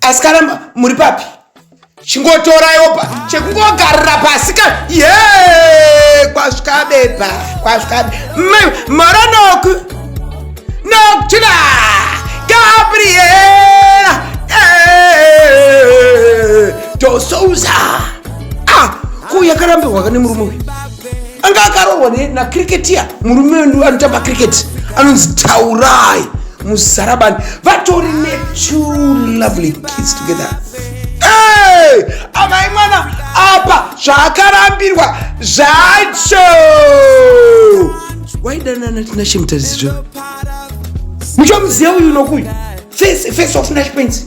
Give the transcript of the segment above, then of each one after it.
Asikana muri papi? Chingotoraiwo pa chekungogarira pasi ka. Ye! Kwasvika beba, kwasvika. Maranok. Nok chila. Gabriela. Eh! Tosouza. Ah, ko yakarambirwa kane murume uyu. anga akarohwa nacriketia murume wendu anotamba cricket anonzi taurai muzarabani vatori netwo lovely kids together hey! amai mwana apa zvaakarambirwa zvacho waidanana tinashe mutarisizvo muchomuziva uyu nokuyu face of nash pensi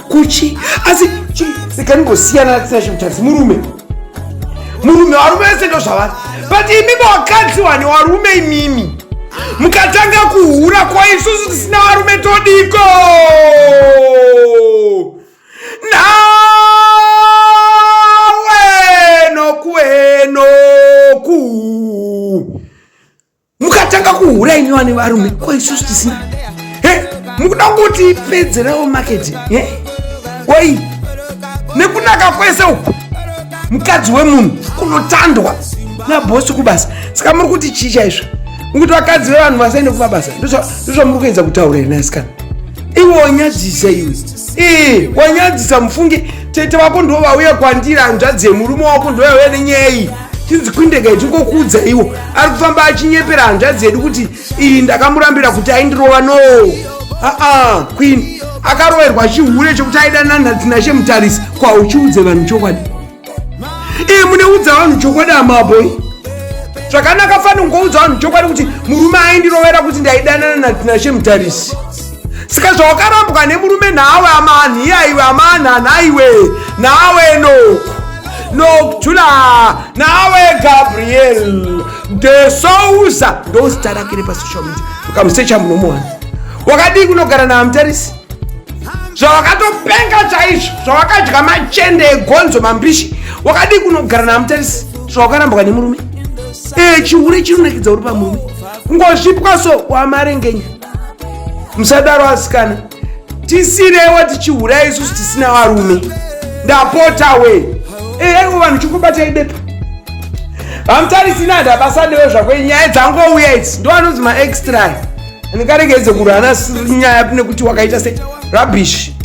kuchi asi sikangosiyana natina chimutasi murume murume varume vese ndo zvavari but imimi wakadzi wani warume imimi mukatanga kuhura kwa isusu tisina varume todiko nawe nokuenoku mukatanga kuhura imi vane varume ko isusu tisina he mukuda kuti pedzerawo maketi he woi nekunaka kwese uku mukadzi wemunhu kunotandwa nabhosi kubasa saka muri kuti chii chaizvo mukuti vakadzi vevanhu vasaende kumabasa ndozvamuri kuedza kutaura here naisikana iwe wanyadzisa iwe ii wanyadzisa mufunge tete vako ndo vauya kwandiri hanzvadzi yemurume wako ndo vauya nenyaya iyi chinzi kwindega ichingokuudza iwo ari kufamba achinyepera hanzvadzi yedu kuti iyi ndakamurambira kuti aindirova no aa queen akaroverwa chihure chekuti aida nanhatinashe mutarisi kwauchiudze vanhu chokwadi iyi muneudza vanhu chokwadi amaboi zvakanaka fani kungoudza vanhu chokwadi kuti murume aindirovera kuti ndaidanana natinashe mutarisi saka zvawakarambwa nemurume nawe amanhi iyaiwe amanhanha iwe nawe noku nokutula nawe gabriel de sousa ndozita rakere pasocial media ukamusecha munomuwana wakadii kunogara naamtarisi zvawakatopenga chaizvo zvawakadya machende egonzo mambishi wakadii kunogara namutarisi zvawakarambuka nemurume ee chihure chinonakidza uri pamurume kungozvipwa so wamarengenya musadaro asikana tisirewo tichihurai isusu tisina varume ndapota we eaiwo vanhu chikubatai bepa vamutarisina ndabasa newe zvako nyaya dzangouya idzi ndovanonzi maextra ndingaregedze kurana nyaya nekuti wakaita se rubbish